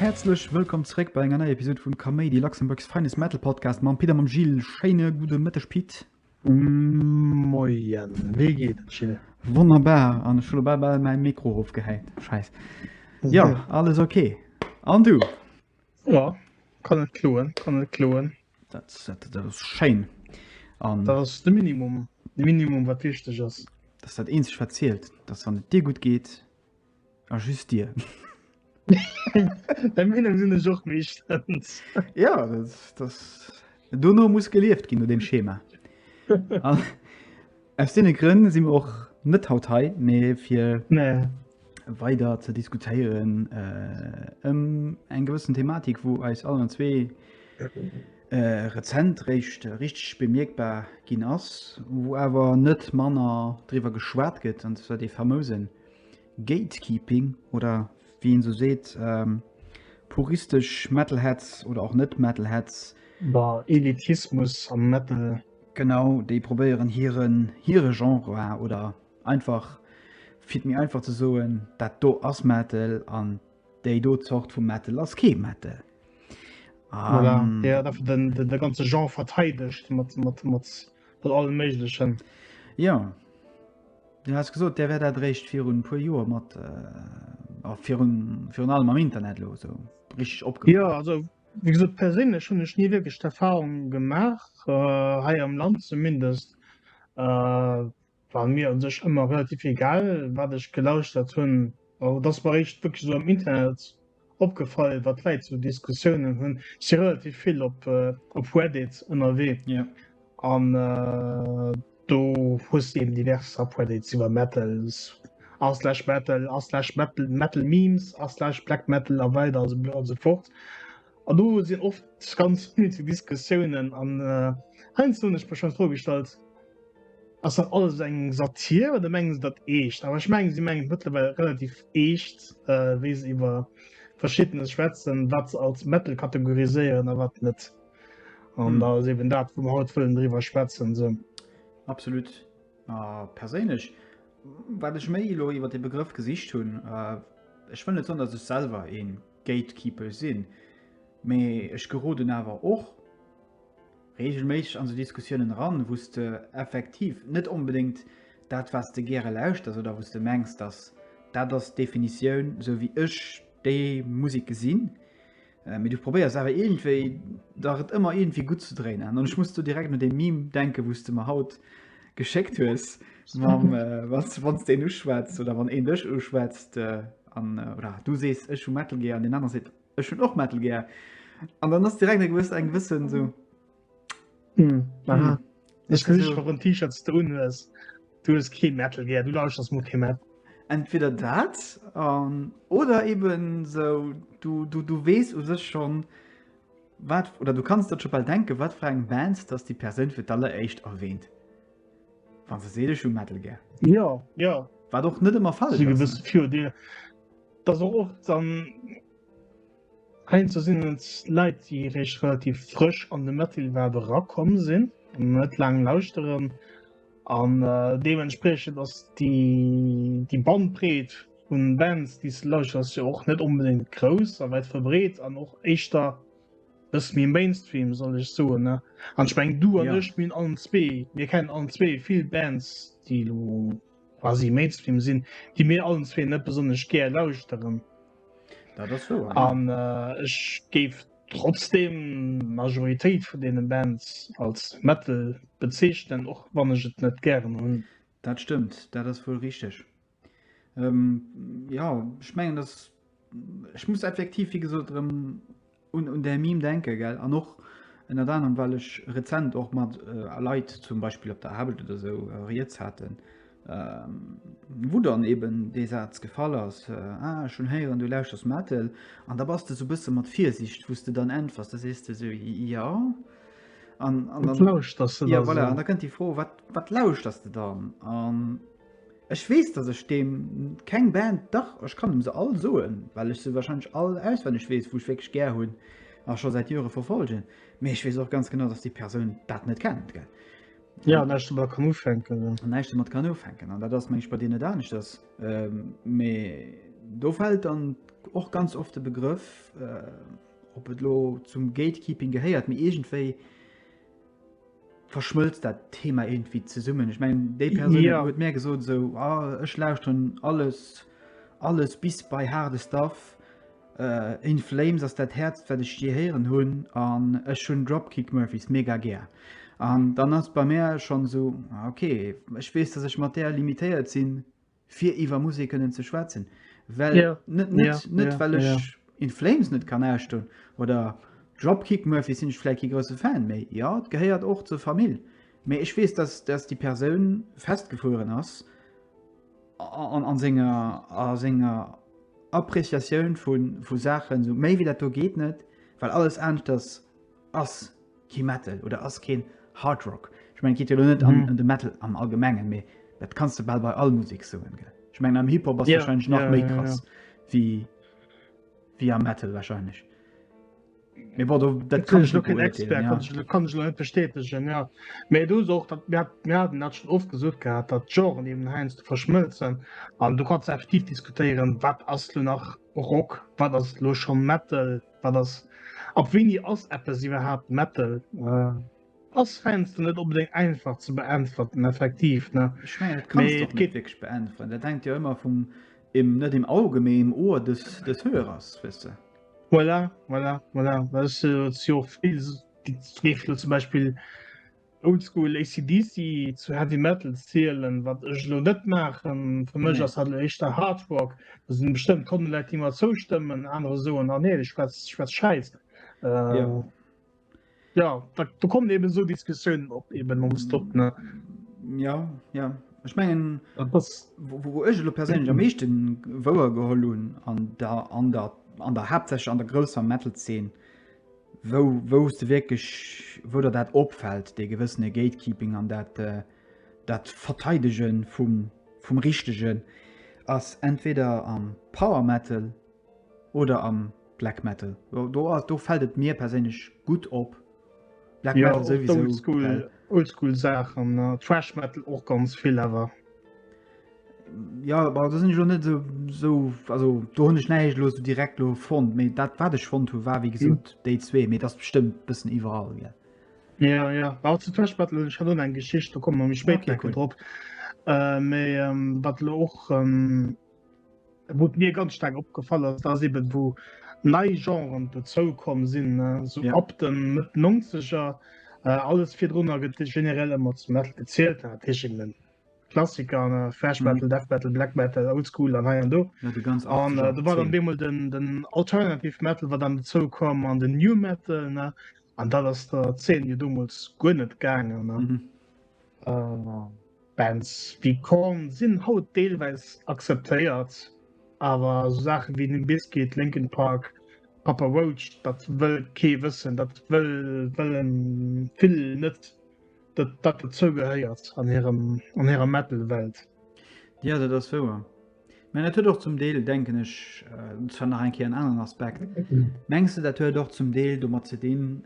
Häerzlech wëllkomm zréck bei enger neier Episod vum Kaméidi, Luxembourg's Finest Metal Podcast mam Pit a mam Gilles. Schéine gudde Mëtteg, Pit. Moien, wéi geet et Jill? Wonnerbar, an ech hu lo bal bal mäi Mikro erofgehäit, scheiss. Jo, alles ok. An du? Jo, kann net kloen, kann net kloen. Dat, dat, dat ass schéin. An Dat ass de Minimum, de Minimum wat wichteg ass. dat ass dat eenzeg wat zielt, dass wann et dir gutt geet, A just dir. Bei mir sinn ech och méi stëmmt. Ja, das, das, dono muss gelieft ginn no dem Schema. Ah, aus deene Grënn si mir och net haut hei, mee fir nee. weider ze diskutéieren äh, ëm eng gewëssen Thematik, wou eis allen zwee rezent réischt richteg bemierkbar ginn ass, wou awer net manner driwwer geschwat gëtt, an zwar dee famouse Gatekeeping oder wéi een esou seet, puristesch Metalheads oder och net Metalheads, de Elitismus am Metal, genau, déi probéieren hiren, hire Genre, oder einfach fir et méi einfach ze soen, dat do ass Metal an Déi do Zort vu Metal ass kee Metal. Voilà. Um, ja, dafür den, den, den ganze Genre verteidigt mat, mat, mat, mat allem Möglichen. Ja. Du hast gesagt, der wäre da recht für ein paar Jahre mit, äh, für, ein, für ein allem am Internet los, so richtig abgemacht. Ja, also, wie gesagt, persönlich schon ich nie wirklich Erfahrungen gemacht, äh, hier im Land zumindest. Äh, war mir un sech ëmmer relativ egal wat ech gelauschtert hunn, ma et ass mer eréischt wierklech esou am Internet opgefall, wat d'Leit esou Diskussiounen hunn. Ech si relativ vill op op Reddit ënnerwee an do hues de eben divers Subreddits iwwer Metal, r slash metal, r slash metal metal memes, r slash black metal a weider a sou fort. An do sinn oft ganz unnöteg Diskussiounen. An heiansdo hunn ech mech schonn d'Fro gestallt, Ass dat alles eng Satir oder mengen se dat eescht? Awer ech mengen, si mengen et mëttlerweil relativ eescht, wéi se iwwer Verschiddenes schwätzen, wat se als Metal kategoriséieren a wat net. An da ass eben dat, wou mer haut wëllen driwwer schwätzen. Sou. Absolut. A perséinlech, wat ech méi elo iwwer dee Begrëff gesicht hunn, ech wëll net soen, datt ech selwer ee Gatekeeper sinn, mee ech geroden awer och reegelméisseg an sou Diskussiounen eran, wou s de effektiv net onbedéngt dat, wat s de gäre lauschters oder wou s de mengs, dass dat ass d'Definitioun, sou wéi ech déi Musek gesinn, mee du probéiers awer iergendwéi dach et ëmmer iergendwéi gutt ze dréinen. An ech muss do direkt un dee Meme denken, wou s de mer haut geschéckt hues mam, wann s de een uschwätzt oder wann een dech uschwätzt, An, oder du sees, ech hu Metal gär, an deen anere seet, ech hunn och Metal gär. An dann ass direkt e gewësst, eng gewëssen so. Mm. Aha. Ech kann sech warum T-Shirts du unhues. Du hues kee Metal gär, du lauschters mo kee Metal. Entweder dat an oder eben so du, du, du wees u sech schon wat oder du kannst dat schon bal denken, wat fir eng Band dass déi Persoun fir d'alleréischt erwähnt. Wann se seele schu Metal gär. Ja ja wat och net ëmmer fall gewësse Fier Dir dat och och dann Hei ze sinn et Leiit déi réischt relativ frësch an de Metal wat erakomm sinn net laang lauschteren an deementspriechend ass déi déi Bandbreet vun Bands déi s de lauschters jo och net onbedéngt grouss a wäit verbreet an och éischter Bëssen méi Mainstream soll ech soen ne an ech meng du an ech minn allen zwee mir kennen allen zwee vill Bands déi elo quasi Mainstream sinn déi mir allen zwee net besonnesch gär lauschteren. Dat ass wouer, ja. An ech géif trotzdem d'Majoritéit vun deene Bands als Metal bezeechnen och wann ech et net gären hunn. Dat stëmmt, dat ass wuel richteg. Ähm, ja, ich mengen, dass ich muss effektiv, wie gesagt, um, un, un der Meme denken, gell? An och ënnert anderem, weil ich rezent och mat äh, Leit zum Beispiel op der Arbeit oder so äh, Rieds hatten, ähm, wo dann eben de Satz gefall ass, äh, ah, schon héieren, du lauschters Metal, an da bass du so bësse mat Virsicht, wo du dann entwers, da sees du so, ja, an, an dann, ja, voilà, an da kënnt die Fro, wat, wat lauschters du dann? An, Ech wees dass ech deem keng Band, dach ech kann em se all soen well ech se wahrscheinlech all auswenneg wees wou ech wierklech gär hunn a scho säit Joere verfolgen, mee ech wees och ganz genau dass déi Persoun dat net kennt gell. Jo, näischt domat kann ufänken. Näischt domat kann ufänken an dat ass mengen ech bei dir net aneschters, mee do fält dann och ganz oft de Begrëff, ob et elo zum Gatekeeping gehéiert, mee iergendwéi, verschmëlzt dat Thema irgendwie zesummen. Ech meng déi Perun ja. huet mé gesot so ah, ech lauschten alles alles bis bei harde Staff. Uh, äh, in Flames ass dat Herz wat ech je heieren hunn an ech hunn Dropkick Murphys mega gär. An dann ass bei mé schon so ah, okay, ech wees, dass ech mat der limitéiert sinn fir iwwer Musek kënnen ze schwätzen. Well ja. net, net, ja. net ja. well ech ja. in Flames net kann ausstoen oder Dropkick Murphy sinn ech vläit ki grosse Fan méi. Ja, et gehéiert och zur Famill. Mee ech weess, dass, dass déi Persoun festgefueren ass an, an senger, a senger Appreciatioun vun, vu Saachen, sou méi wéi dat do geet net, well alles aneschters ass kee Metal oder ass keen Hard Rock. Ech meng geet jo net an mhm. de Metal am allgemengen méi dat kannst du bald bei all Musik soen ge. Ech meng am Hip-Hop yeah, wahrscheinlich nach yeah, méi krass yeah, yeah. wie wie am Metal wahrscheinlich. Mir war dat kann ich kann net bestätegen ja. méi du soch dat Mäerden dat schon oft gesucht gehabt, dat Joren eben heinz du verschmëlzen an du kannst effektiv diskutieren, wat ass du nach Rock, wat ass lo schon Metal. Wat ass ab wéini ass eppes iwwerhaapt Metal? Ass fenste net onbedéngt einfach ze beäntwerten effektiv ne wierklech beäntweren dat hängt jo ëmmer vum im net im Auge mee im Ohr des des Hörers wësse. Voilà voilà voilà zum Beispiel. Oldschool AC/DC zu Heavy Metal zielen, wat ech lo net maachen. Fir mech ass dat éischter Hard Rock. Do sinn bestëmmt Honnert Leit, déi mer zoustëmmen, anerer soen, ah nee, dee schwätzt schwätzt Schäiss. Äh, ja, da, da kommen eben esou Diskussiounen op eben nonstop. Ne? Ja, ja. Ech mengen, wou ech lo perséinlech am meeschte wouer geholl hunn an der, an der, an der Haaptsächlech an der grousser Metal-Zeen, wou wou s de wierklech, wou der dat opfält, dee gewëssene Gatekeeping an dat dat Verteidege vum vum Richtegen ass entweder am Power Metal oder am Black Metal. Do ass do fält et mir perséinlech gutt op. Black ja, Metal sowieso. Oldschool, Oldschool Saachen, Trash Metal och ganz vill awer. Ja da sinn ech lo net esou also do hunn ech näicht lo direkt lo fonnt, méi dat wat ech fonnt hu war wéi gesot mhm. déi zwee, méi dat bestëmmt bëssen iwwerall gell. Ja ja war zu Tëschbattle ech hat eng Geschicht, da komme méi spéit okay, cool. drop. Äh, méi ähm, wat lo och ähm, wot mir ganz stark opgefallen ass, dats eben wo nei Genren bezou kom sinn äh, so ja. ab den Mëtt 90er äh, alles virdrunner gëtt generell ëmmer zum Metal gezielt hat. Klassiker an äh, Thrash Metal, mhm. Death Metal, Black Metal, Old School an hei an do. Ja, de ganz an äh, da war dann deemol den, den Alternative Metal, wat dann dozou komm an den New Metal ne? an dat ass der 10 jo domols guer net gaangen. Mhm. Äh, Bands wie Korn sinn haut deelweis akzeptéiert, awer so Sachen wie den Biscuit, Linkin Park, Papa Roach, dat wëll kee wëssen, dat wëll wëllen vill net dat dat dozou gehéiert an hirem an hirer Metal-Welt. Jo, dat ass wouer. Mä dat huet och zum Deel, denken ech, dat ass schonn nach eng Kéier en aneren Aspekt. Mengs du, dat huet och zum Deel domat ze dinn,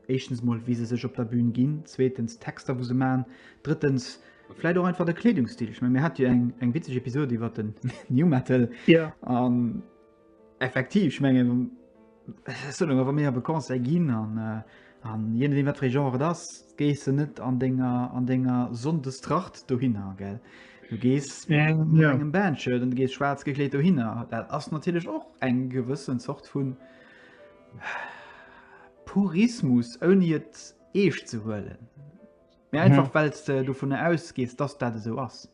éischtens emol, wéi se sech op der Bühn ginn, zweetens d'Texter, wou se maachen, drëttens vläicht och einfach de Kleedungsstil? Ech meng, mir hate jo eng eng witzeg Episod iwwer den New Metal. Jo. An. Effektiv, ech mengen, soen ech mer, wa mir op e Concert ginn an an je nodeem wat fir ee Genre et ass, gees de net an denger an denger Sonndestracht dohinner, gell? Du gees mat engem Bandshirt an du gees schwaarz gekleet dohinner. Dat ass natierlech och eng gewëssen Zort vu Purismus, ouni et eescht ze huelen, mä einfach well s de dovunner ausgees, dass dat esou ass.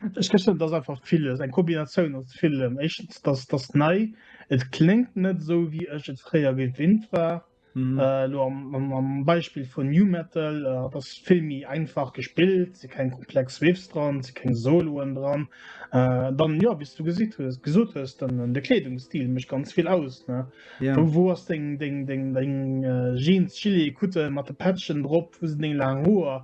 Ech gëssen, et ass einfach villes, eng Kombinatioun aus villem. Éischtens, dass dass nei, et kléngt net esou, wéi ech et fréier gewinnt war. Elo am am Beispill vun Nu Metal, et ass vill méi einfach gespillt, et si keng komplex Riffs dran, et si keng Soloen dran. Dann, jo, wéi s du gesitt hues, gesot hues, den de Kleedungsstil mécht ganz vill aus, ne? Ja. Wou wou ass deng deng deng deng Jeans, Gilet, Kutte mat de Patchen drop? Wou sinn deng laang Hoer?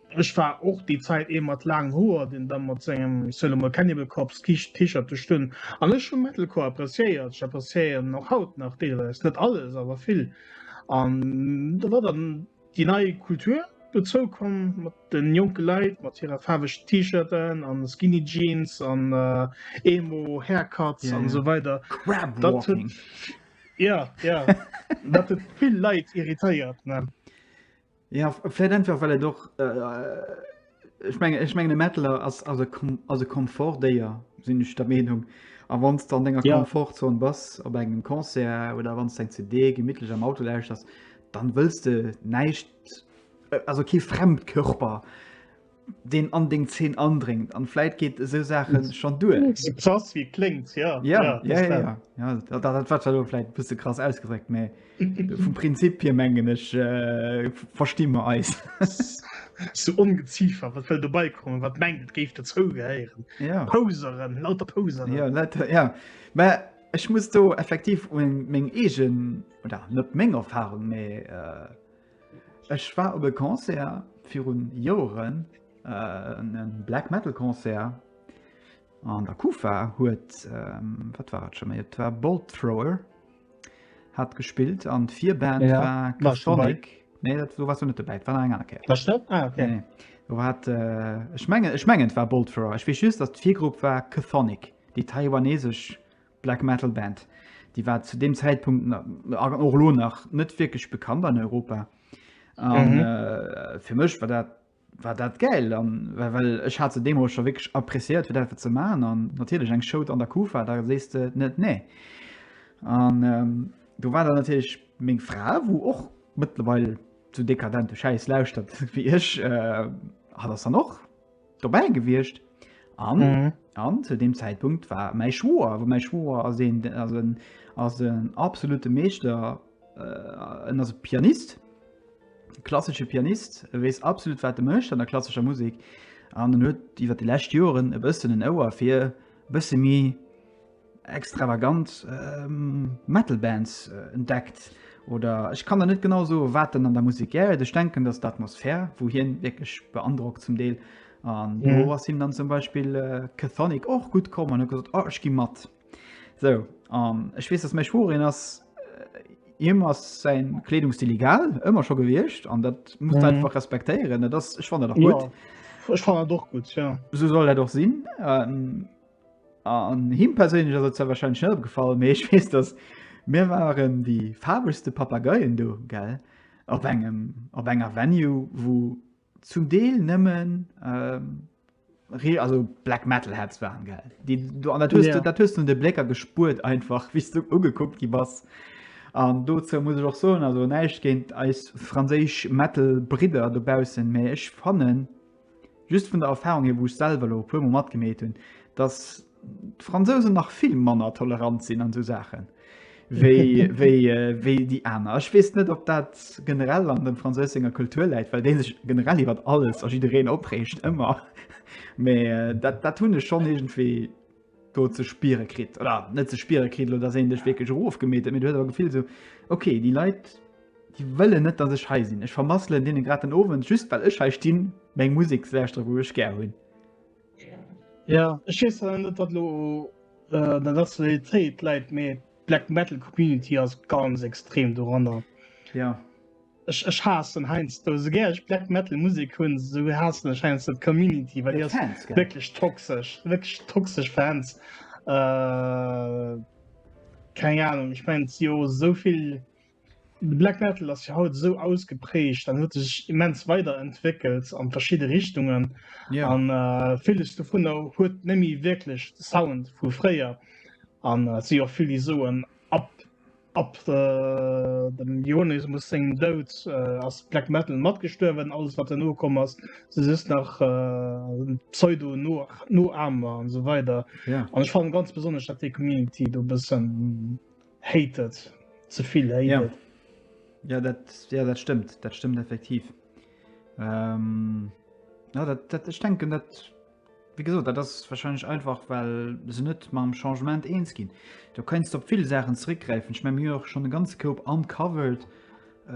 Ech war och déi Zait ee mat laangen Hoer, deen da mat sengem, ech soen emol, Cannibal-Corpse T-Shirt do stung. An ech hu Metalcore appreciéiert, ech appreciéieren och haut nach deelweis, net alles, awer vill. An do war dann déi nei Kultur dozou komm, mat de jonke Leit, mat hire faarwegen T-Shirten a Skinny Jeans an Emo Haircuts an esou weider. Crab Walking. Jo, jo. Dat huet vill Leit irritéiert. Ja, vläit einfach well et och, ech mengen, ech mengen e Mettler ass ass e Kom ass e Komfortdéier, sinn ech der Meenung. A wann s de an denger Ja. Komfortzon bass op engem Concert oder wann s de eng CD gemittlech am Auto lauschters, dann wëlls de näischt, also kee Fremdkörper deen an deng Zeen andréngt an vläit geet esou Saache schon duer. Krass wie klingt ja, ja, ja, ja, ja, ja. ja dat, dat, dat war vläit bësse krass ausgedréckt, mä vum Prinzip hier mengen ech äh, versti mer eis. so ongeziefer wat well dobei kommen wat mengt et géif dozou gehéieren ja. Poseren lauter Poseren ja, lauter, ja. Mä ech muss do effektiv un meng egen oder net meng Erfahrung méi äh, Ech war op e Concert virun Joeren, e Black Metal Concert an der Kufa huet, wat war et scho méi, et war Bolt Thrower hat gespillt an d'Virband war Custodic. Nee, do wars du net dobäi, et war nach eng aner Kéier. Warst du? Ah, okay. Nee, nee. Do war et, ech mengen, ech mengen et war Bolt Thrower. Ech weess just, datt d'Virgrupp war Chthonic, déi taiwanesesch Black Metal Band. Déi war zu deem Zäitpunkt och lo nach net wierklech bekannt an Europa. An mhm. äh, fir mech war dat war dat geil an well, well ech hat ze Demo schon wirklich appréciiert fir dat ze man an natürlich eng Scho an der Kufa da sest du net nee an ähm, du war dann natürlich még Fra wo och mittlerweile zu dekadente Scheiß lauschtert wie ich äh, hat das dann noch dobäi gewiescht an mhm. an zu dem Zeitpunkt war mein Schwoer wo mein Schwoer as een as een as een absolute Meeschter äh, en as Pianist klassische Pianist e wees absolut wat de mecht an der klassischer Musik an den huet iwwer die lächt Joren e bëssen en Ouer fir bësse mi extravagant Metal Bands entdeckt oder ech kann der net genau so wat den an der Musik gäret. Ech denken, dass d'Atmosphär, wo hien wirklich beandrockt zum Deel an mhm. wo was him dann zum Beispiel äh, Cathonic och gut kom an gesagt oh, ich gi mat. So an ech wees dass mech worin ass immer sein Kleidungsstil egal immer schon gewircht an dat muss mhm. einfach respektieren das ich fand doch gut ja. ich fand doch gut ja so soll er doch sinn ähm, An him perséinlech ass et zwar wahrscheinlech net opgefall, mee ech weess, dass mir waren déi faarwegste Papageien do, gell, op engem, op enger Venue, wou zum Deel nëmmen, also Black Metal Heads waren, gell, déi do, an dat hues de, dat hues de un de Blécker gespuert einfach, wéi s du ugekuckt gi bass. An dozou muss ech och soen, also näischt géint eis franséisch Metal-Bridder dobaussen, mee ech fannen, Just vun der Erfahrung hier, wou ech selwer elo e puer mol matgemeet hunn, dass d'Fransousen nach vill manner tolerant sinn an esou Saachen wéi déi aner. Ech weess net ob dat generell an dem Fransous senger Kultur läit, well dee sech generell iwwert alles a jiddereen opreegt ëmmer. Mee dat hunn ech schonn iergendwéi. do ze spiere kritt oder net ze spiere kritt oder dass een dech wierklech erofgemeet huet, mee du hues awer Gefill so, okay, déi Leit, déi wëllen net, dass ech hei sinn. Ech vermasselen deene grad den Owend, just well ech hei stinn, meng Musek ze lauschteren, wou ech gär hunn. Ja, ech weess awer net, ob dat elo an der Nationalitéit läit, mee d'Black Metal Community ass ganz extrem doranner. Ja. Ech ech haassen heiansdo esou gär ech Black Metal Musek hunn, esou haassen ech heiansdo d'Community, well déi ass Fans, gell? wierklech toxesch, wierklech toxesch Fans. Äh, keng Ahnung, ech mengen, et si jo esou vill, de Black Metal ass jo haut esou ausgeprägt an huet sech immens weiderentwéckelt an verschidde Richtungen Ja. an äh, villes dovunner huet nemmi wierklech de Sound vu fréier an et si och vill, déi soen, Ab ab äh, dem Ionismus sengem Doud äh, ass Black Metal matgestuerwen, alles wat no komm ass, se just nach äh, Pseudo no, no Amer an so weider. Ja. An ech fan ganz besonnesch dat déi Community do bëssen hatet zevill hatet. Ja. Ja, dat, ja, dat stimmt, dat stimmt effektiv. Ähm, ja, dat, dat, ich denken, dat Wéi gesot, dat ass wahrscheinlech einfach, well se net mam Changement eens ginn. Do kéints de op vill Saachen zeréckgräifen. Ech menge mir hu jo och schonn e ganze Koup Uncovered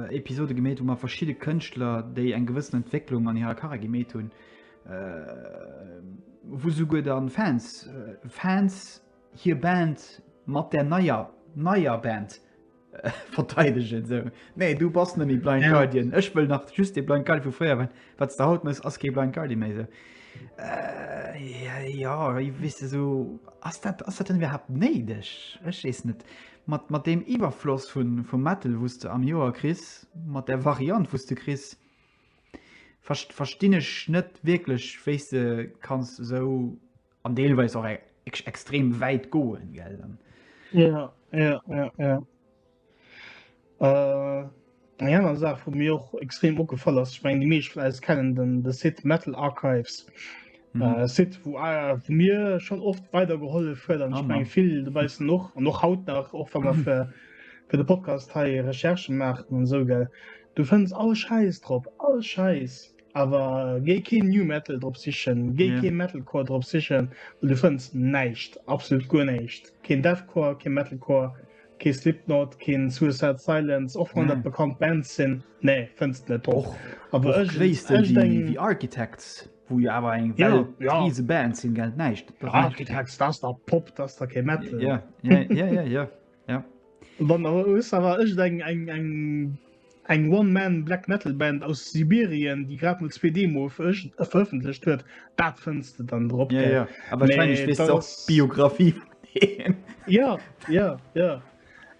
Episode gemeet, wou mer verschidde Kënschtler, déi eng gewëssen Entwécklung an hirer Karriär gemeet hunn, wou souguer dann d'Fans, Fans hir Band mat där neier, neier Band, verteidegen sou nee du bass nemmi Blind ja. Guardian ech wëll nach just de Blind Guardian vu fréier wat wat der haut mess ass ge Blind Guardian méi se äh, ja, ja i wisste so ass dat ass dat denn wer hat neideg ech sees net mat mat dem Iwerfloss vun vum Metal wusste am Joer kris mat der Variant wusste kris verstinn ech net wieklech wéis de kanns sou an deelweis och eg extrem wäit goen gell dann ja ja ja ja äh Eng aner Saach vu mir och extrem opgefall ass, meng de meesch vläs kennen den de Sit Metal Archives mhm. äh, Sit wo äh, vu mir schon oft weidergeholle huet an eng ah, vill de beiste noch an noch haut nach och wann man fir fir de Podcast hei Recherche maachen an sou gell. Du fënns all Scheiß drop, all Scheiß. Awer géi keen New Metal drop sichen, géi yeah. kee Metalcore drop sichen, du fënns näicht, absolut guer näicht. Keen Deathcore, kee Metalcore, kee Slipknot, keen Suicide Silence, och wann nee. dat bekannt Band sinn, nee fënns net och. Awer ech wéis de wie Architects wo jo awer eng ja, ja. riese Band sinn geld näicht. Architects, dat der Pop, dat der kee Metal. Ja, ja, ja, ja, ja. Ja. Bon, awer ech eng eng eng eng one man black metal Band aus Sibirien die grad mit zwei Demo veröffentlicht hue dat findste dann drop ja, ja. aber ist... Biografie ja ja ja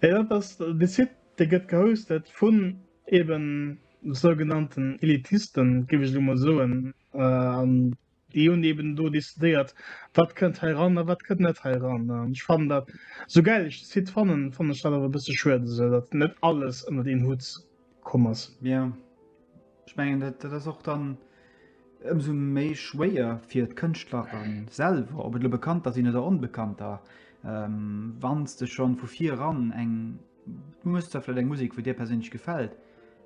ja das sieht der get gehostet von eben sogenannten Elitisten gebe ich immer so äh, Déi hunn eben do decidéiert, wat kënnt hei ran a wat kënnt net hei ran. An ech fannen dat, esou gäil ech de Site fannen, fannen ech dat awer e bësse schued, esou datt net alles ënnert een Hutt komm ass. Jo, ech mengen, dat, dat ass och dann ëmsou méi schwéier fir d'Kënschtlerer selwer, ob et elo Bekannter sinn oder Onbekannter, wa s de schonn vu viran eng, du hues zwar vläicht eng Musek, wou dir perséinlech gefält,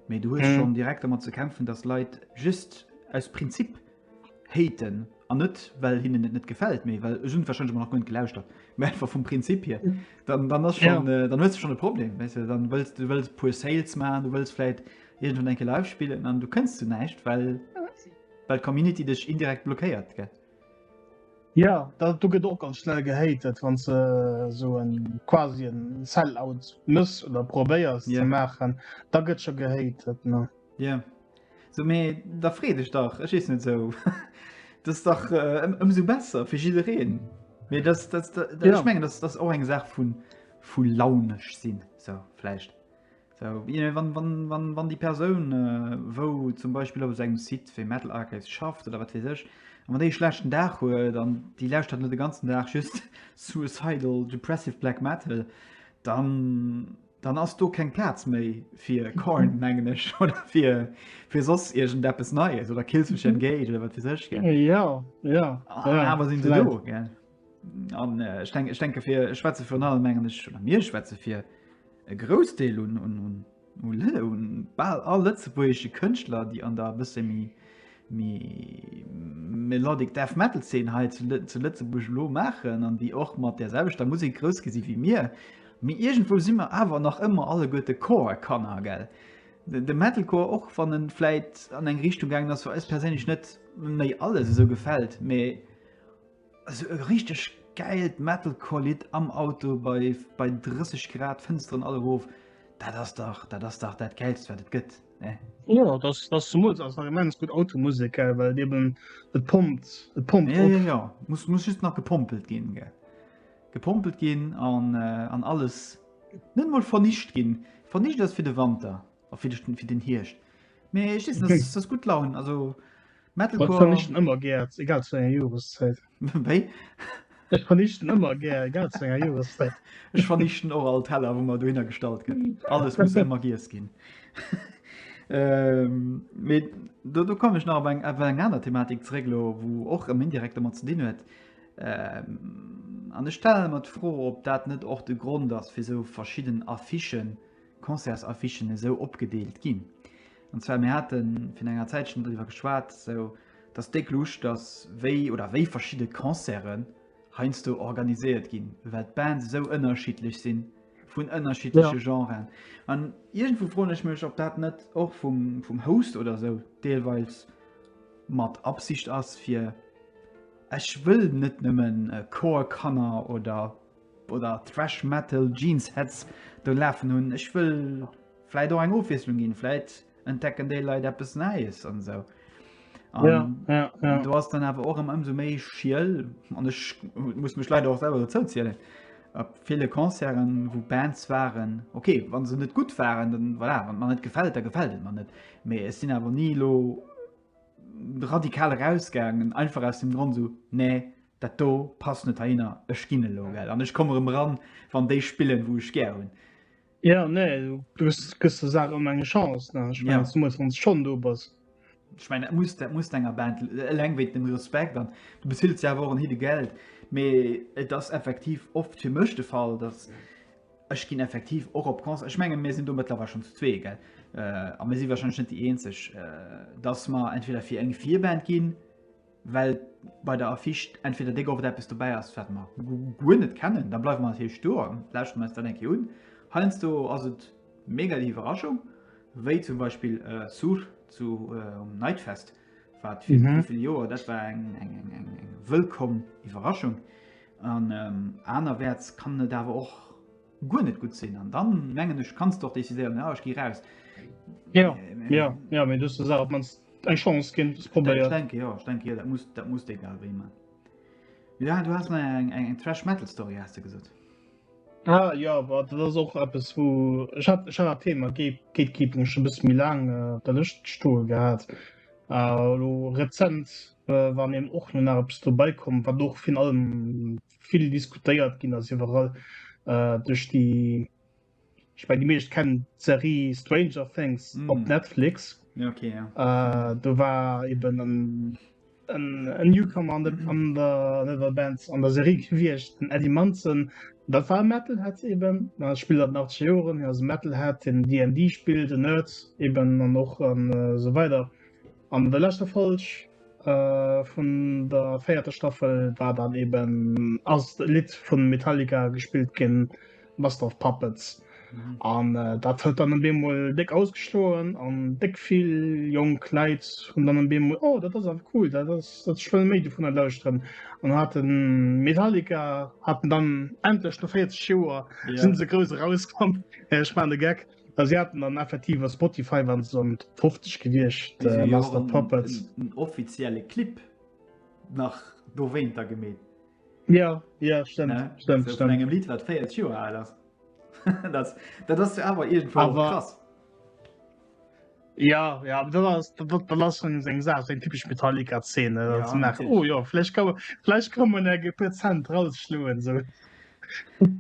mee du hues schonn direkt domat ze kämpfen, datt Leit just aus Prinzip haten an net well hinnen et net gefällt méi well hun wahrscheinlich nach gut gelauschtert mé einfach vum Prinzip hier dann dann hast schon ja. äh, dann huest du schon e Problem weißt du, dann willst du willst pur Sales man du willst vielleicht irgendwann enke live spielen an du kennst du neicht weil weil Community dich indirekt blockiert gell? Ja dat du get och ganz schnell gehatet wann ze äh, so en quasi en Sellout muss oder probéiers yeah. ze machen da gëtt schon gehatet ne. Ja. Yeah. So mee da free dech dach, ech ees net esou. Dat ass dach ëmsou besser fir jiddereen. Mee dat, dat, dat, dat ja. ich mengen, dat ass och eng Saach vun vu launesch sinn so vläicht. So, wann, wann, wann, wann die Persoun äh, wou zum Beispiel op engem Site fir Metal Archives schafft oder wat sech an wann déi schlechten Dag huet an die läscht hat net de ganzen Dag just suicidal depressive Black Metal, dann Dann ass do keng Plaz méi fir Korn, mengen ech, oder fir, fir soss irgend eppes Neies oder Killswitch Engage oder wat weiß ech, gell? Äh, Ja, ja. Ah, ja, Aber sinn se vielleicht. do, gell? An äh, ich denke, ich denke fir ich schwätze virun allem mengen ech oder mir schwätze fir e Groussdeel un, un, un, un, Lë- un bal all lëtzebuergesche Kënschtler, déi an der e bësse méi Mee Melodic Death Metal Szene hei zu Lëtzebuerg elo maachen an déi och mat der selwechter Musek grouss gi si wéi mir. Mee iergendwou si mer awer nach ëmmer alleguerte Core-Kanner, gell? De Metalcore, och wann en vläit an eng Richtung gaangen ass, wou eis perséinlech net méi alles esou gefält, mee. Also e richteg gäilt Metalcore-Lidd am Auto bei, bei 30 Grad, Fënsteren all erof. Dat ass dach dat ass dach dat Gäilst, wat et gëtt. Ne? Jo, das, das zum Mut ass nach immens gut Automusik, äh, well eben et pompt, et pompt. Ja, ja, ja. Muss, muss just nach gepompelt ginn. Ge. Gepompelt ginn an, äh, an alles net mal vernicht ginn. Vernicht ass fir de Wanter a fir, fir den Hierscht. Mee ich, das, das gut Laun. Also, ëmmer gär egal zu enger Joreszäit Ech vernichten ëmmer gär egal zu enger Joreszäit Ech vernichten och all Teller wou mer dohinner gestallt gëtt alles muss ëmmer giess ginn Mee do do komm ech nach op eng op eng aner Thematik zréck elo wou och rëm indirekt domat ze dinn huet an ech stellen mer d'Fro ob dat net och de Grond ass fir esou verschidden Affichen Concertsaffichen esou opgedeelt ginn. An zwar, mir hate virun enger Zäitchen driwwer geschwat, sou dass déck Luuscht ass, wéi oder wéi verschidde Concerte heiansdo organiséiert ginn, well d'Bands esou ënnerschiddlech sinn, vun ënnerschiddleche ja. Genren. An iergendwou froen ech mech, ob dat net och vum, vum Host oder sou deelweils mat Absicht ass, fir ech wëll net nëmmen äh, Chorkanner oder oder Thrash Metal Jeans Heads do lafen hunn. Ech wëll vläit och eng Ofwiesslung ginn, vläit entdecken déi Leit eppes Näies an esou. Ja, ja, ja. Du hast dann awer och ëm ëmsou méi schiel an ech muss mech leider och selber zou zielen. Ab viele Konzeren wo Bands waren okay wann se net gut waren dann voilà, wann man net gefällt da gefällt man net mee es sinn awer nie lo radikal rausgangen einfach aus dem Grund so nee Dat do passt net heihinner, ech ginn elo, gell, an ech komme rëm eran, wann déi spillen, wou ech gär hunn. Ja, nee, du gëss der Saach ëmmer eng Chance, ne? Ech mengen, zemools wann s de schonn do bass. Ech mengen, dat muss, dat muss de enger Band, eleng wéint dem Respekt, an du beziles jo awer och en Hidde Geld. Mee et ass effektiv oft fir mech de Fall, datt ech ginn effektiv och op Concerten, ech mengen, mir sinn do mëttlerweil schonn zu zwee, gell, a mir si warscheinlech net déi Eenzeg, datt mer entweder fir eng Virband ginn, Well bei der Affiche entweder déck oft eppes dobäi ass, wat mer guer net kennen, da bleiwe mer natierlech do a lauschteren eis dat eng Kéier un. Heiansdo ass et mega déi Iwwerraschung, wéi zum Beispill Sur zu Nightfest, wat fir wéivill Joer, dat war eng wëllkomm Iwwerraschung. An anerwäerts kann et awer och. guer net gutt sinn an dann mengen ech kanns doch décidéieren ja, ech gi raus. Ja ja ja méi duste Saach mans eng Chance ginn probéiert. Denke ja ich denke ja, dat muss dat muss egal wéi man. Ja du hast eng eng eng Trash Metal Story hast du gesot. Ah, ja wat dat ass och eppes wou ech hat ech hat Thema geet geet gi mech bis mi lang äh, der Lëscht stoe gehat. Äh, lo rezent äh, wann em och no nach eppes dobäikom, wat och fin allem vill diskutéiert ginn ass iwwerall äh, duerch déi ich mein, die meescht kennen Serie Stranger Things mm. op Netflix okay, ja. äh, du war eben an en Newcomer an, de, an der Level Bands an der Serie gewiecht den Eddie Manson dat war Metal hat eben na, spiel dat nach Joen as Metal hat den DD spiel den Nerds eben an noch an äh, so weiter An der leschter Folg vun der véierter Staffel war dann eben ass e Lidd vun Metallica gespillt ginn, Master of Puppets. An dat huet dann en Bemol déck ausgeschloen an déck vill jonk Leit hunn dann en Bemol, oh dat ass awer cool, dat ass ech wëll méi dovunner lauschteren. An haten Metallica haten dann endlech no 40 Joer sinn se grouss erauskomm, ech maan e Geck. Well si haten dann effektiv a Spotify waren se an Top 50 gewiescht, Déi sinn jo och Master of en, Puppets. en, en offizielle Clip nach dowéinter gemeet, Ja, ja, stemmt, ne? stemmt, Vu, vun stemmt. engem Lidd, wat 40 Joer al ass. dat, dat ass jo awer iergendwou och Awer- krass. Ja ja dat ass dat ass schon eng Saach seng typesch Metallica Zeen ja, ze nach oh jo flläch ka flläch kom man eng Prozent rausschloen so.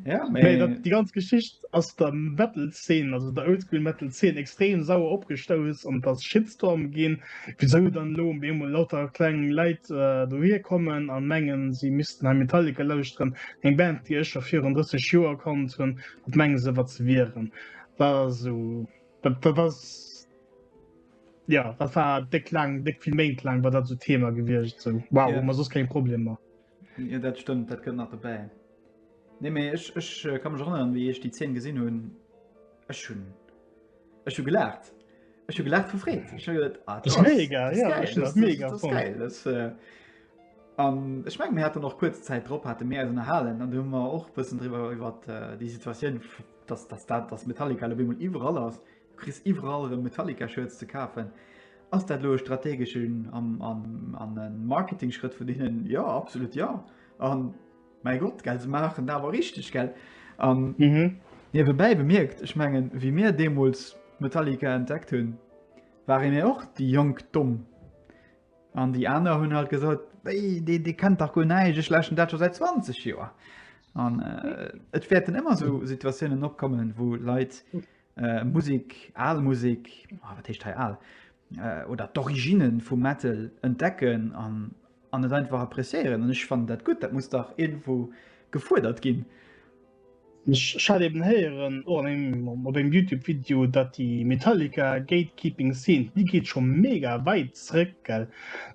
Ja, nee, dat, die ganz Geschicht ass der Metalzeen also der Oldschool Metal 10 extrem sauer opgestouss an das Shitstorm ginn wieso dann lo emol lauter klengen Leiit äh, dohir kommen an mengen sie missten ein Metallica lausren eng Band die ech schon 34 Joer kommt hun dat mengen se wat ze wieren da so Dat, dat ass ja dat war déck lang déck vill Méint lang war dat so Thema gewiecht sinn. Wow yeah. man sos keng Problemer. Ja dat stëmmt, dat gëtt nach dobäi. Nee méi ech ech äh, kann mech erinnern, wéi ech déi 10 gesinn hunn ech hunn ech hu gelacht. Ech hu gelacht vu Freet. Ech hu gedacht, ah, das, das mega, das ja, geil, das, mega das, das geil. Das, äh, Um, ich mein, mir hat noch kurz Zeit drop hatte mehr erhalen an du immer auch bisschen darüber über äh, die Situation dass dass dat dass Metallica elo op eemol iwwerall ass, du kriss iwwerall erëm Metallica Shirts ze kafen, ass dat elo e strategeschen an an an e Marketingschrëtt vun hinnen? Jo absolut jo an mäi Gott gell se maachen dat awer richteg gell an niewebäi bemierkt, ech mengen wéi mir deemools Metallica entdeckt hunn, ware mir och déi jonk Domm An déi aner hunn halt gesot, Wéi, dee, dee kennt dach guer näischt, ech läschen dat scho säit 20 Joer. An äh, et wäerten ëmmer sou Situatiounen opkommen, wou Leit äh, Musik, al Musik, oh, wat heescht hei al, äh, oder d'Origine vum Metal entdecken an, an et einfach appréciéieren. An ech fannen dat gutt, dat muss dach irgendwo gefuerdert ginn. Ech hat eben héieren och an engem op engem Youtube Video, datt déi Metallica Gatekeeping Scene, déi geet scho mega wäit zréck, gell?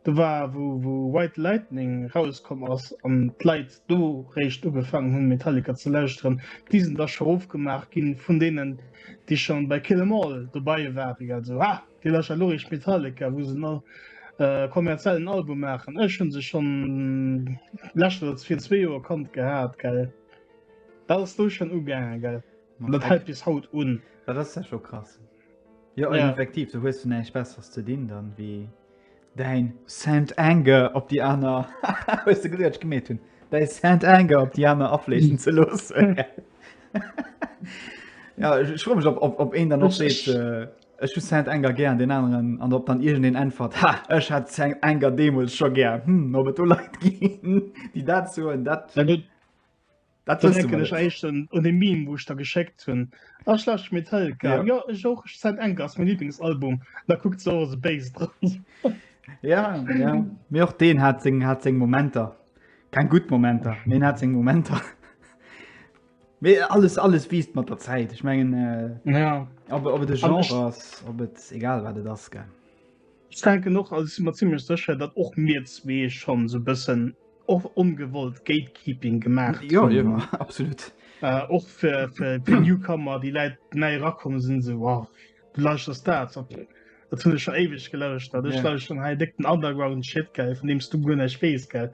Do war wou wou Ride the Lightning rauskomm ass an d'Leit do réischt ugefaangen hunn Metallica ze lauschteren, déi sinn da scho ofgemaach ginn vun deenen déi scho bei Kill 'Em All dobei waren, gell? Sou ha, dir lauschtert elo réischt Metallica wou se en kommerziellen Album maachen. Ech hunn se schonn lescht oder fir zwee Joer kannt gehat, gell? Wars du schon ugaangen gell? Ma dat hält bis haut un. Dat ass ja scho krass. Jo an effektiv, du hues du näischt besseres ze dinn dann wéi däin Saint Anger op déi aner hues de gesinn wat ech gemeet hunn? Däi Saint Anger op déi aner afleechen ze loossen. Ja ech ech froe mech op op op een dann och seet. Ech hu Saint Anger gär, an deen aneren, an ob dann iergend een äntwert, Ha, ech hat Saint Anger deemools scho gär. Hm, ob et do Leit ginn, déi dat soen, dat, dat wësse mer net. Da denken ech éischten un dee Meme, wou ech der geschéckt hunn, Ach, Schlecht Metelka, jo, ech och, Saint Anger ass mäin Liiblingsalbum. An da kuckt se och esou béis dran. Ja, ja, mee och deen hat seng Momenter. Keng gutt Momenter, mee en hat seng Momenter. Mee alles, alles wiisst mat der Zäit. Ech mengen, äh, ja. ob, ob et de Genre ass, ob et egal wat et ass gell. Ich denke noch als immer ziemlich sicher, dat och mir zwee schon so bëssen och ongewollt Gatekeeping gemacht. Ja, ja absolut. Äh, och fir fir de Newcomer, déi Läit nei rakommen sinn se wow, du lauschters dat op. Dat hunn ech schon éiweg gelauscht, dat ech yeah. lauscht schon hei déck den Underground Shit gell, vun deems du guer näicht wees gell.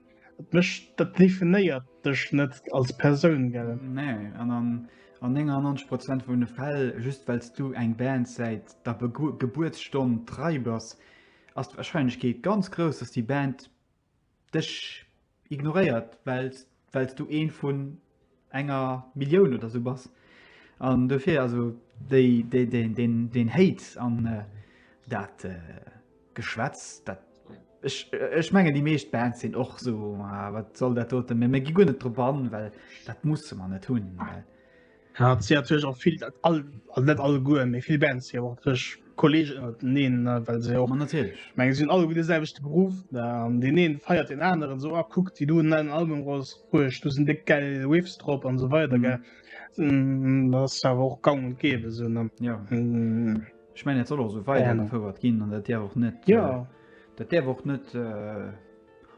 Dat definéiert dech net als Persoun gell? Nee, an an, an 99 Prozent vun de Fäll just well du eng Band säit der Gebuertsstonn trei bass, ass d'Warscheinlechkeet ganz grouss, datt déi Band dech ignoréiert, well du ee vun enger Millioun oder sou bass an dofir also déi déi den den den Hate an dat Geschwätz dat ech ech mengen déi meescht Bands sinn och so ah, wat soll dat doten mir mir gi guer net drop an well dat musse man net hunn. Ja, et sinn natierlech och vill all net alleguer méi vill Bands déi awer och natierlech Kolleg neen well se och meng sinn alle gu de selwechte Beruf an den een feiert den aneren so a kuckt wie du nein Album Ros Ruecht du sinn de gell Riffs drop an so weiter ge ass awer och gang und gebe sinn an ja ech mein soll och so weiterfouert ginn an dat Dir och net ja dat Dir och net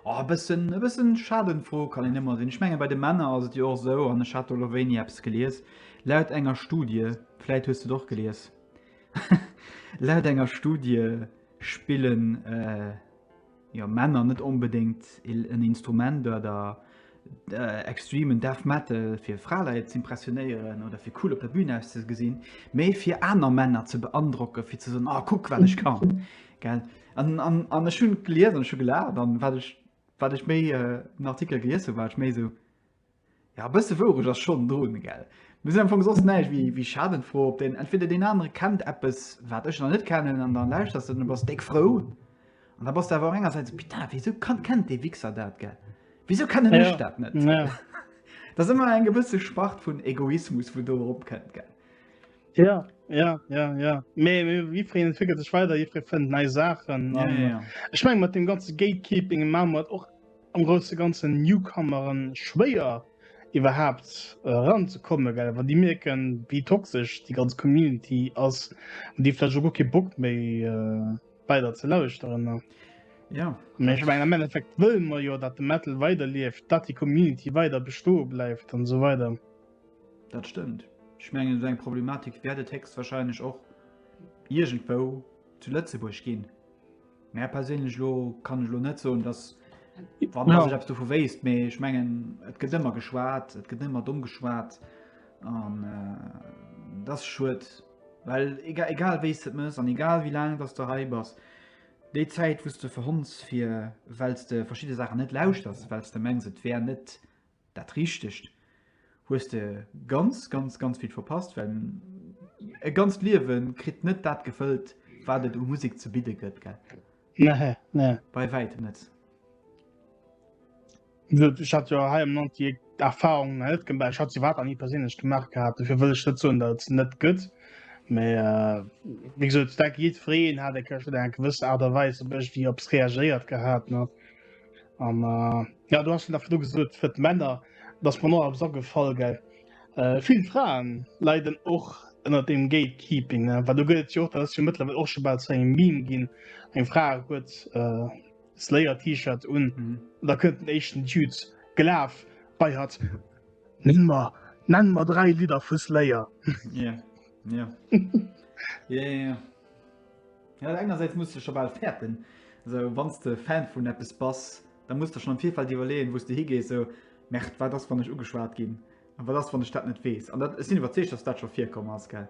a bëssen e bëssen schaden fro kann en ëmmer sinn ech menge bei de Männer ass et Dir och sou an e Chatoloveni Apps gelies laut enger Studie fläit hues du och gelies. Laut enger Studie spillen jo Männer net onbedéngt en Instrument oder extremen Death Metal fir Fraleit z'impressionéieren oder fir cool op der Bühn auszegesinn, mee fir aner Männer ze beandrocke fir ze soen, oh kuck wat ech kann. Gell? An an an ech hunn gelies an ech hu gelaacht an wat ech wat ech méi den Artikel gelies hunn, war ech méi esou, Ja, e bësse wourecht ass schonn drun, gell? Mir sinn am Fong soss näischt wéi wéi Schadenfroe op deen entweder deen anere kennt eppes, wat ech nach net kennen an da lauschters de an du bass déck frou. An da bass de awer och engersäits, Putain, wéisou kann kennt dee Wichser dat, gell? Wéisou kennen ech Ja, dat net? ja. Dat ass ëmmer eng gewësse Spart vun Egoismus, wou do eropkënnt, gell? Ja, ja, ja, ja. Mee mee jiddwereen entwéckelt sech weider, jiddweree fënnt nei Saachen Ja, an ja, ja. ech menge mat deem ganze Gatekeeping maache mer et och am grousse ganzen Newcomeren schwéier iwwerhaapt eran ze kommen, well wann déi mierken wéi toxesch déi ganz Community ass, hunn déi vläicht och guer kee Bock méi weider ze lauschteren. Jo. Mee ech mengen am Endeffekt wëlle mer jo dat de Metal weider lieft, dat déi Community weider bestoe bleift an esou weider. Dat stëmmt. Ech mengen esou eng Problematik wäert et héchstwahrscheinlech och iergendwou zu Lëtzebuerg ginn. Mä perséinlech elo kann ech elo net soen, datt wann Ja. sech eppes dovu wéisst, mee ech mengen et gëtt ëmmer geschwat, et gëtt ëmmer domm geschwat an äh, dat ass schued, well ega- egal wéi s de et mëss an egal wéi laang datt s de hei bass, déi Zäit wou s de verhonns fir well s de verschidde Saachen net lauschters, well s de mengs et wär net Dat richtegt. Hues de ganz ganz ganz vill verpasst, well e ganzt Liewe kritt net dat gefëllt, wat et u Musek ze bidde gëtt, gell? Nee, nee. Bei wäitem net. Ech hat jo hei am Land déi Erfahrung net gemaach. Ech hat se wat an nie perséinlech gemaach gehabt. Dofir wëll ech net soen, dat et net gëtt. Mee äh, wéi gesot, dat jiddwereen hat eng Kéier schon eng gewësse Art a Weis op ech, wéi op es reagéiert gehabt. Ne? an äh, ja du hast nach du gesucht für Männer dass man nur so gefall ge äh, viel Frauen leiden och ënner dem Gatekeeping ne? weil du gilt jo dass du mittlerweile auch schon bald zu einem Meme gin eng Fra huet äh, Slayer T-Shirt un mhm. da könnten echten Dudes gelaf bei hat nenn mal nenn mal drei Lieder für Slayer ja yeah. yeah. yeah, yeah. Ja, engersäits muss de scho bal fäerten, esou wann s de Fan vun eppes bass, da muss de schonn am Virfeld iwwerleeën, wou s de higees, esou Merde, wat ass wann ech ugeschwat ginn, a wat ass wann ech dat net weess? An dat, ech sinn iwwerzeegt, datt dat scho virkomm ass, gell?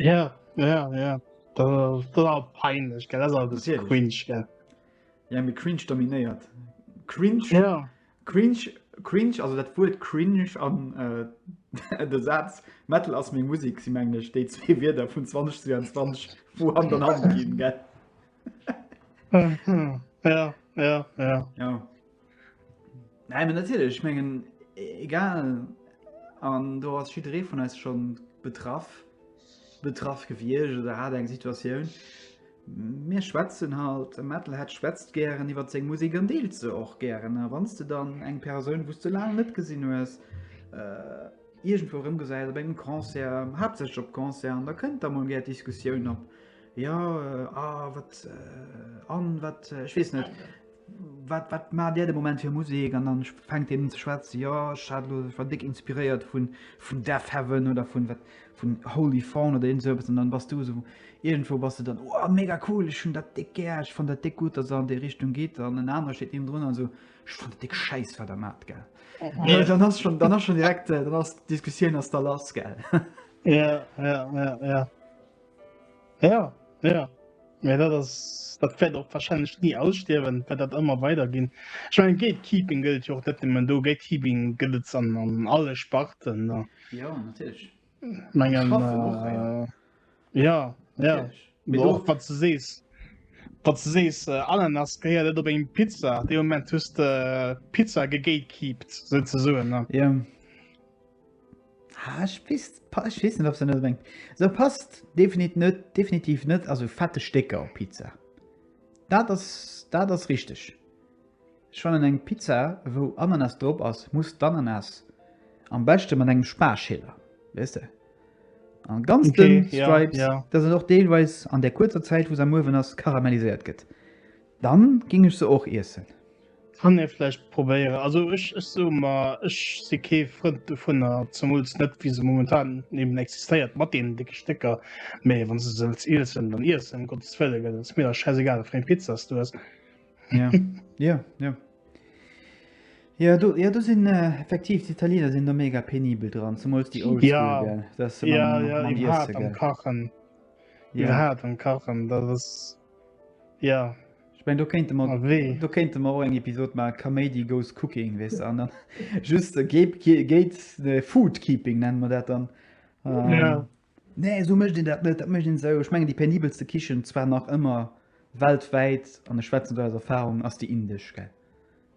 Ja, ja, ja, dat ass, dat ass awer peinlech, gell, dat ass awer e bësse Natierlech. cringe, gell? Ja, mee cringe dominéiert. Cringe. Ja. Cringe, cringe, also dat Wuert cringe an de Saz Metal ass meng Musek si mengen ech déi zwee Wierder vun 2022 wou Hand an Hand ginn, gell? Ja, ja, ja. Jo. Nei mee natierlech, ech mengen egal an do ass jidderee vun eis schonn betraff, betraff gewiescht oder hat eng Situatioun. Mir schwätzen halt, e Metalhead schwätzt gären iwwert seng Musek an deelt se och gären. A wann s de dann eng Persoun, wou s de laang net gesinn hues, iergendwou erëmgesäis, op engem Concert, haaptsächlech op Concerten, da kënnt da mol gär d'Diskussioun op, Jo, a wat, an wat, ech weess net, Wat, wat maacht Där de Moment fir Musek? An dann fänkt een un ze schwätzen, jo, ech hat elo, ech war déck inspiréiert vun, vun Deafheaven oder vun, wat, vun Holy Fawn oder iergend esou eppes. An dann bass du esou, iergendwou bass du dann, wow, mega cool, ech hunn dat déck gär, ech fannen dat déck gutt, datt Der an déi Richtung gitt. An en anere steet niewendrun an esou, ech fannen dat déck schäiss, wat Der maacht, gell. Well dann ass schonn, dann ass schonn direkt, dann ass d'Diskussioun ass da lass, gell. Ja, ja, ja, ja. Ja, ja. Ja, dat ass dat wäert och wahrscheinlech nie ausstierwen, well dat ëmmer weiderginn. Ech meine Gatekeeping gëllt jo och net nëmmen do, Gatekeeping gëtt et an, an alle Sparten. Ne? Ja natierlech. Mengen äh, ja, ja. Och wat ze sees. Wat ze sees äh, Ananas geiert net op eng Pizza. De Moment hust de äh, Pizza gegatekeept, se ze soen. Ja. Ah, ich weiß, ich weiß nicht, ob sie nicht unbedingt. So passt definitiv nicht, definitiv nicht. Also fette Stecker auf Pizza. Das ist, das ist richtig. Ich fand eine Pizza, wo Ananas drauf ist, muss die Ananas am besten mit einem Sparschäler. Weißt du? An ganz okay, dünn Stripes, ja, ja. dass es auch teilweise an der kurzer Zeit, wo es am Ofen ist, karamellisiert wird. Dann ging ech se och iessen. Kann een vläicht probéieren. Also ech ech soe mer ech si kee Frënd dovunner, zemools net wéi se momentan eben existéiert mat deenen décke Stécker. Mee wann s de se wëlls iessen, dann iess se ëm Gottes Wëllen, gell. Et ass mir da schäisegal wat fir eng Pizza s du ess. Ja, jo, jo. Jo do, jo do sinn effektiv d'Italiener sinn do mega penibel dran, zemools déi old school, gell. Ja, dat ass se mam, ja, ja, mam Iessen, gell. Iwwerhaapt am Kachen, iwwerhaapt am Kachen, dat ass. Ja. Ech mengen do kéinte mer do kéinte mer och eng Episod maachen, Kaméidi goes cooking, weess de, an dann just Gate Food Keeping nennen mer dat dann. Ja. Nee, esou mécht een dat net, dat mécht een esou. Ech mengen déi penibelste Kichen zwar nach ëmmer weltwäit, an ech schwätzen do aus Erfahrung, ass déi indesch, gell.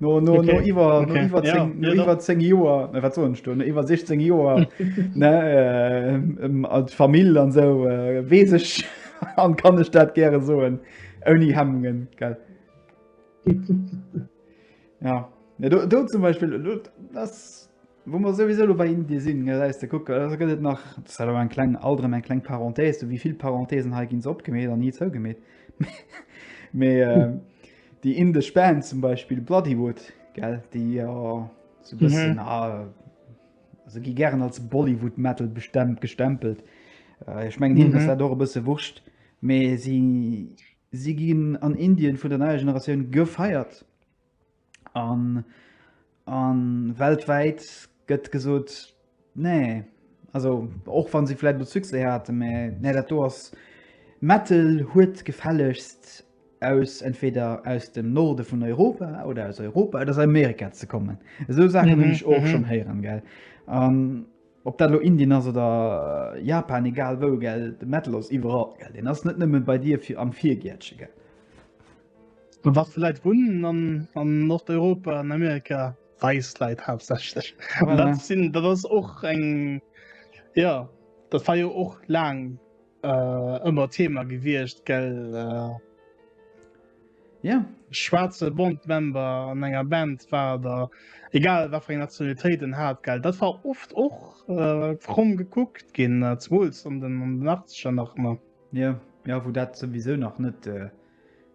No, no, okay. no iwwer okay. no iwwer ja, no iwwer 10 Joer ne wat sonst no iwwer 16 Joer ne äh, ähm, als Famill an so äh, wees ech an kann ech dat gäre soen ouni Hemmungen gell ja. ja do, do zum Beispiel do, das Wou mer souwisou elo bei Indien sinn, gëtt et nach, dat ass elo eng kleng, alt erëm eng kleng Parenthèse, sou wéi vill Parenthèsen hei ginn se opgemeet an ni zougemeet, mee déi indesch Band zum Beispill Bloodywood, gell, déi jo sou e bëssen, se gi gären als Bollywood Metal gestempelt, ech mengen hinnen ass dat och e bësse wurscht, mee si ginn an Indien vun der neier Generatioun gefeiert. An a weltwäit gëtt gesot, nee, also och wann si vläit elo Succès haten, mä nee, dat do ass, Metal huet gefällegst aus entweder aus dem Norde vun Europa oder aus Europa oder aus Amerika ze kommen. Esou Saachen hunn ech och schonn héieren, gell. An ob dat elo Indien ass oder Japan, egal wou, gell, de Metal ass iwwerall, gell. Deen ass net nëmme bei dir am Virgäertche, gell. An wat fir Leit wunnen an, an Nordeuropa an Amerika? Weis Leit haaptsächlech. An dat Voilà. sinn, dat ass och eng, ja, dat war jo och laang äh, ëmmer Thema gewiescht, gell? Äh, Ja, schwaarze Bond-Member an enger Band war, da egal wat fir eng Nationalitéit en hat, gell? Dat war oft och äh, fromm gekuckt ginn, äh, zemools an den, an den Achtzeger nach ëmmer. ja, ja, wou dat souwisou nach net äh,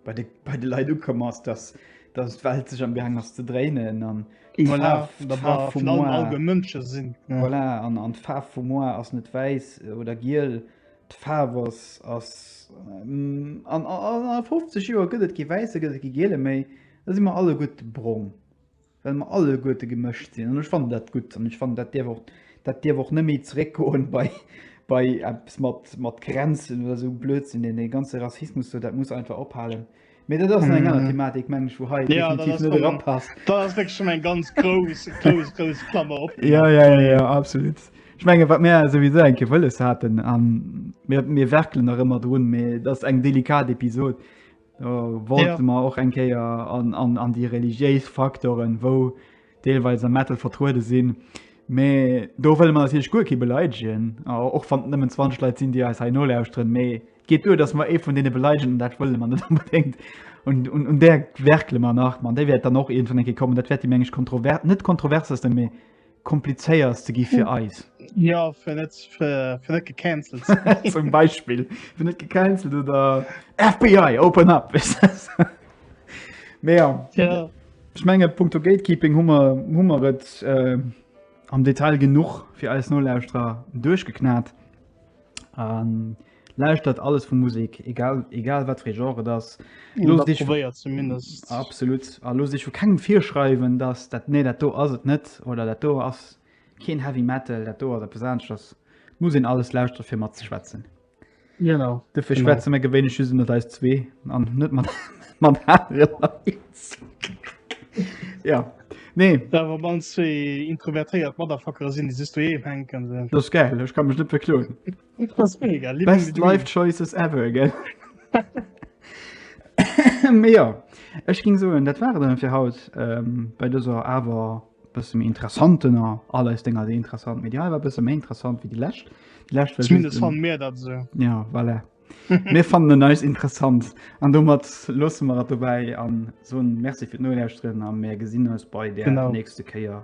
bei de, bei de Leit ukomm ass, dass, dass d'Welt sech am Gang ass ze dréinen an voilà, d'Faarf vum Moar all de Mënsche sinn. Ja. Voilà, an, an d'Faarf vum Moar ass net wäiss oder giel. D'Faarf ass, ass ähm, an, an, an 50 Joer gëtt et kee wäisse, gëtt et kee giele méi. Da si mer alleguerte brong. well mer alleguerte gemëscht sinn an ech fannen dat gutt an ech fannen dat dierf och, dat dierf och net méi zeréckgoen bei, bei eppes mat, mat Grenzen oder esou Blödsinn, deen, dee ganze Rassismus do, dat muss einfach ophalen. Mee dat ass nach eng aner Thematik, meng ech, wou hei definitiv net erapasst. Dat ass wierklech schonn eng ganz grouss, grouss, grouss Klammer opgemaach. Jo, jo, jo, jo, absolut. Ech menge wat mir souwisou eng Kéier wëlles haten, a mir, mir werkelen nach ëmmer drun, mee dat ass eng delikat Episod, Wollte mer och eng Kéier an déi religiéis Faktoren, wou deelweis am Metal vertruede sinn. Mä do wëlle mer natierlech guer kee beleidegen, och wann et nëmmen 20 Leit sinn, déi eis hei nolauschteren. Mä et geet duer, datt mer ee vun deene beleidegen an dat wëlle mer net onbedéngt. Un där werkele mer nach. Mä déi wäert dann och iergendwann eng Kéier kommen. Dat wäert déi, meng ech, kontrovers, net kontroversesten, mä komplizéiers ze gi fir eis ja fir net fir fir net gecancelt ze ginn. zum Beispiel fir net gecancelt oder FBI open up weißt du. Mee ja, Ja, ech menge Punkto Gatekeeping hummer hummer et äh, am Detail genuch fir eis Nolauschterer duerchgeknat. Ähm, Lauschtert alles vu Musik, egal, egal wat fir Genre et ass. Los dich zumindest absolut a los dich vu kengem virschreiwen, dass dat nee dat do ass et net oder dat do ass keen Heavy Metal, dat do ass der Pesansch ass muss en alles lauschtert fir mat ze schwätzen. Genau. De fir schwätze mé gewéine schüse mat eis zwee an net mat man Ja. Nee dawer man zwee introvertéiert Maderfacker sinn, déi si du eem henken. Dat geil, ech kann mech net verkloen. Best life choices ever gell Mee jo ech ging soen dat war et dann fir haut bei dëser awer bësse méi interessantener, all eis Dénger si interessant, mee déi hei war bësse méi interessant wéi déi lescht. Déi lescht war Zumindest just en- fan mir dat esou. Ja voilà. Mir fannen en eis interessant an domat loosse mer et dobäi an soen Merci fir d'Nolauschteren a mir gesinn eis bei der Genau. nächste Kéier.